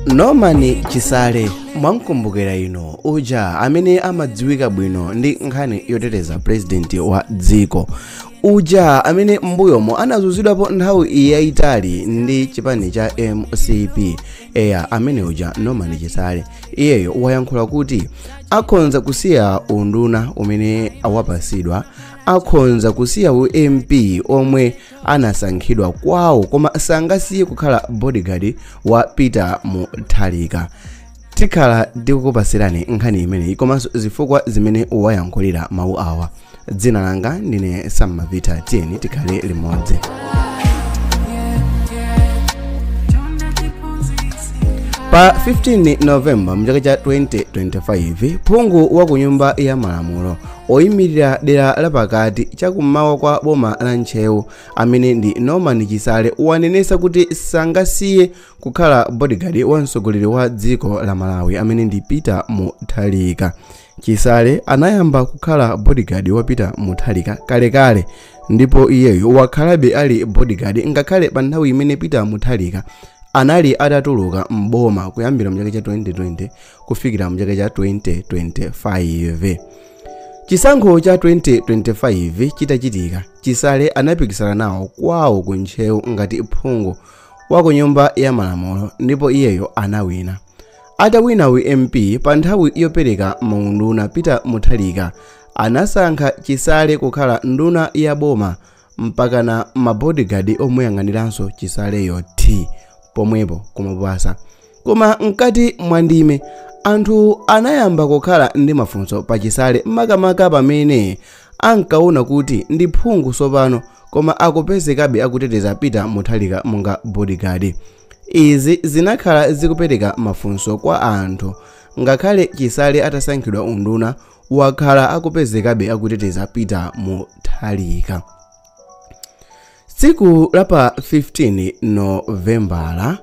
norman chisale mwamkumbukira ino uja amene amadziwika bwino ndi nkhani yoteteza purezidenti wa dziko uja amene m'mbuyomo anazunzidwapo nthawi yayitali ndi chipani cha mcp eya amene uja norman chisale iyeyo wayankhula kuti akhonza kusiya unduna umene awapasidwa akhonza kusiya u mp omwe anasankhidwa kwawo koma sangasiye kukhala bodyguard wa peter mutharika tikhala ndikukupasirani nkhani imeneyi komanso zifukwa zimene wayankhulira mawu awa dzina langa ndine sammavita tiyeni tikhale limodzi pa 15 novemba mchaka cha 2025 phungu wa ku nyumba ya malamulo oyimirira dera lapakati chakummawa kwa boma la ntcheu amene ndi norman chisale wanenesa kuti sangasiye kukhala bodyguard wa mtsogoleri wa dziko la malawi amene ndi peter mutharika chisale anayamba kukhala bodyguard wa peter mutharika kalekale ndipo iyeyo wakhalabe ali bodyguard ngakhale pa nthawi imene peter mutharika anali atatuluka m'boma kuyambira mchaka cha 2020 kufikira mchaka cha 2025 chisankho cha 2025 chitachitika chisale anapikisana nawo kwawo ku ntcheu ngati phungu wa ku nyumba ya malamulo ndipo iyeyo anawina atawina u mp pa nthawi yopereka maunduna peter mutharika anasankha chisale kukhala nduna ya boma mpakana ma bodyguard omuyang'aniranso chisaleyo thi pomwepo kumapasa koma mkati mwa ndime anthu anayamba kukhala ndi mafunso pa chisale makamaka pamene ankaona kuti ndi phungu tsopano koma akupezekabe akuteteza peter mutharika monga bodyguard izi zinakhala zikupereka mafunso kwa anthu ngakhale chisale atasankhidwa unduna wakhala akupezekabe akuteteza peter mutharika tsiku la pa 15 novembala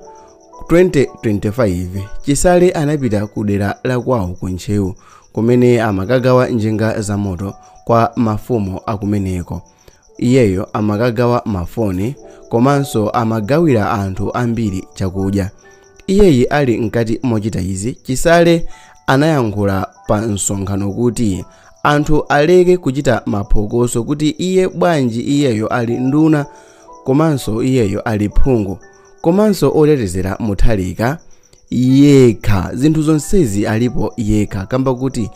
2025 chisale anapita ku dera la kwawo ku ntcheu kumene amakagawa njinga za moto kwa mafumu akumeneko Iyeyo amakagawa mafoni komanso amagawira anthu ambiri chakudya. Iyeyi ali mkati mochita izi, Chisale anayankhula pa msonkhano kuti anthu aleke kuchita maphokoso kuti iye bwanji iyeyo ali nduna komanso iyeyo ali phungu komanso otetezera Mutharika yekha zinthu zonsezi alipo yekha kamba kuti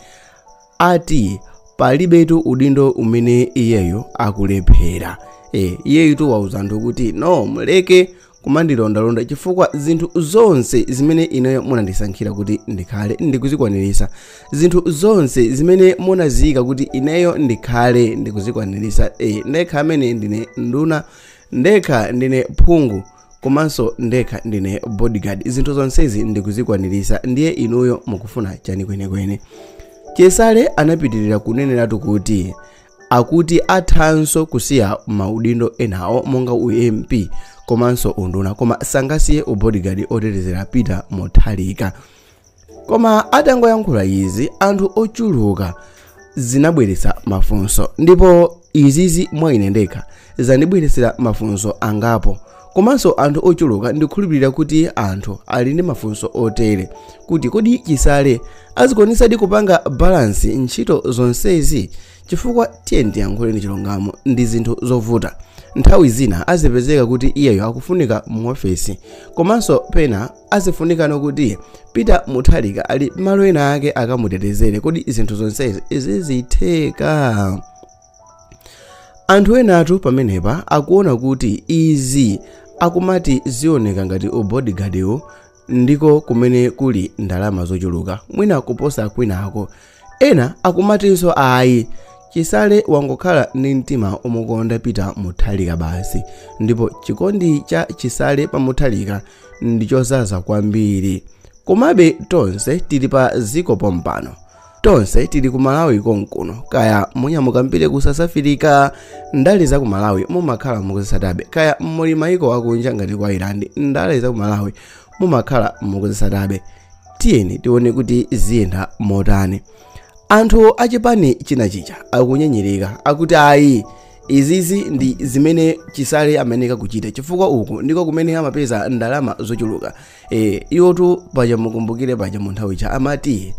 ati palibetu udindo umene iyeyo akulephera e, iyeyitu wauza anthu kuti no muleke kumandilondalonda chifukwa zinthu zonse zimene ineyo munandisankhira kuti ndikhale ndikuzikwaniritsa zinthu zonse zimene munaziyika kuti ineyo ndikhale ndikuzikwaniritsa e, ndekha amene ndine nduna ndekha ndine phungu komanso ndekha ndine bodyguard zinthu zonsezi ndikuzikwanirisa ndiye inuyo mukufuna chani kwenikweni chisale anapitirira kuneneratu kuti akuti athanso kusiya maudindo enawo monga ump komanso unduna koma sangasiye ubodyguard otetezera peter mutharika koma atangoyankhula izi anthu ochuluka zinabweretsa mafunso ndipo izizi mwa ine ndekha zandibweretsera mafunso angapo komanso anthu ochuluka ndikhulupirira kuti anthu ali ndi mafunso otere kuti kodi chisale azikwanitsadi kupanga balansi ntchito zonsezi chifukwa tiye ndiyankhule ndi chilungamo ndi zinthu zovuta nthawi zina azipezeka kuti iyeyo akufunika mu ofesi komanso pena azifunikano kuti peter mutharika ali malo ena ake akamutetezere kodi zinthu zonsezi zizitheka anthu enatu pamenepa akuona kuti izi akumati zioneka ngati ubodyguardiwo ndiko kumene kuli ndalama zochuluka mwina kuposa kwinako Ena akumatinso ayi Chisale wangokhala ndi mtima omukonda Peter Mutharika basi ndipo chikondi cha Chisale pa Mutharika ndichozaza kwambiri. Komabe tonse tili pa ziko pompano. Tonse tili ku Malawi konkuno kaya munyamukambire ku South Africa ndale za ku Malawi mumakhala mukuzisatabe kaya muli maiko akunja ngati ku Ireland ndale za ku Malawi mumakhala mukuzisatabe. tiyeni tione kuti ziyenda motani anthu achipani china chija akunyenyereka akuti ayi izizi ndi zimene chisale amayeneka kuchita chifukwa uku ndiko kumene amapeza ndalama zochuluka e, iwotu paja mukumbukire paja mu nthawi cha amati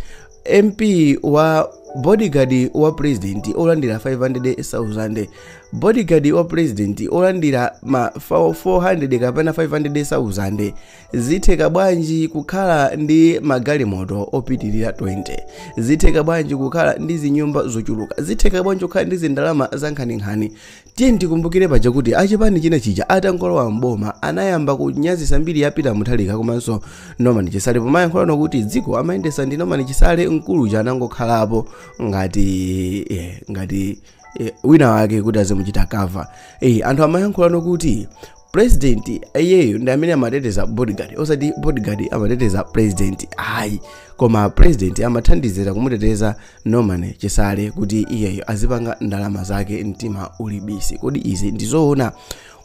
mp wa bodyguard wa president olandira 500,000 bodyguard wa president olandira ma 400 kapena 500,000 zitheka bwanji kukhala ndi magalimoto opitirira 20 zitheka bwanji kukhala ndi zinyumba zochuluka zitheka bwanji kukhala ndi zindalama zankhaninkhani tiye ndikumbukire paja kuti achipani china chija atangolowa mboma anayamba kunyazisa mbiri ya peter mutharika komanso norman chisale pomayankhulano kuti dziko amayendesa ndi norman chisale mkulu uja anangokhalapo ngati eh, ngati eh, wina wake kuti azimuchita cover eh, anthu amayankhulano kuti president iyeyo ndi amene amateteza bodyguard osati bodyguard amateteza president ayi koma president amathandizira kumuteteza norman chisale kuti iyeyo azipanga ndalama zake mtima uli busy kodi izi ndizoona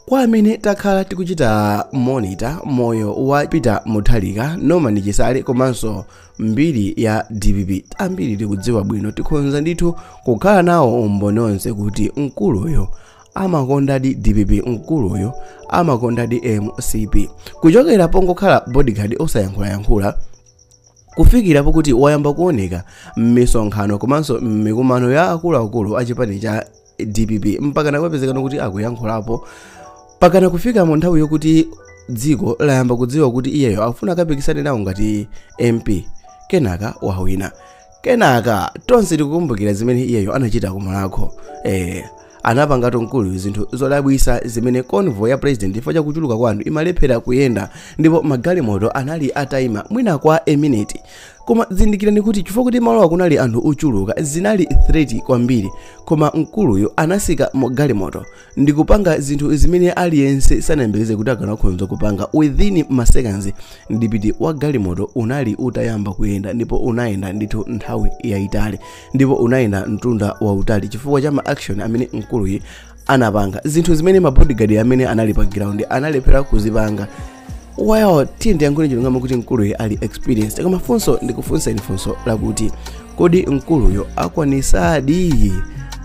kwa amene takhala tikuchita monitor moyo wa peter mutharika norman chisale komanso mbiri ya dpp ambiri tikudziwa bwino tikhonza ndithu kukhala nawo umboni onse kuti mkuluyo amakondadi dpp mkuluyu amakondadi mcp kuchokera pongokhala bodyguard osayankhulayankhula kufikira pokuti wayamba kuoneka m'misonkhano komanso m'mikumano ya akuluakulu a chipani cha dpp mpaka nakupezekano kuti akuyankhulapo pakana kufika mu nthawi yokuti dziko layamba kudziwa kuti iyeyo akufuna akapikisane nawo ngati mp kenaka wawina kenaka tonse tikukumbukira zimene iyeyo anachita ku mulhako eh anapangatu mkuluyu zinthu zodabwisa zimene convoy ya president chifukwa cha kuchuluka kwa anthu imalephera kuyenda ndipo magalimoto anali ataima mwina kwa a minute koma zindikirani kuti chifukwa kuti malowa kunali anthu ochuluka zinali threat kwambiri koma mkuluyu anasika mu galimoto ndi kupanga zinthu zimene aliyense sanayembekeze kuti akanakhonza kupanga within maseconds mdipiti wa galimoto unali utayamba kuyenda ndipo unayenda ndithu nthawi yayitali ndipo unayenda mtunda wautali chifukwa cha ma action amene mkuluyu anapanga zinthu zimene mabodyguard amene anali pa ground analephera kuzipanga well tiyeni tiyankhule chilungamo kuti mkuluyo ali experienced koma funso ndikufunsa ndi funso lakuti kodi mkuluyo akwanisadi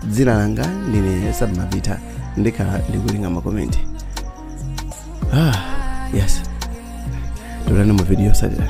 dzina langa ndine sabmavita ndikhala ndikureadinga makomenti ah yes tionane mu video yosatira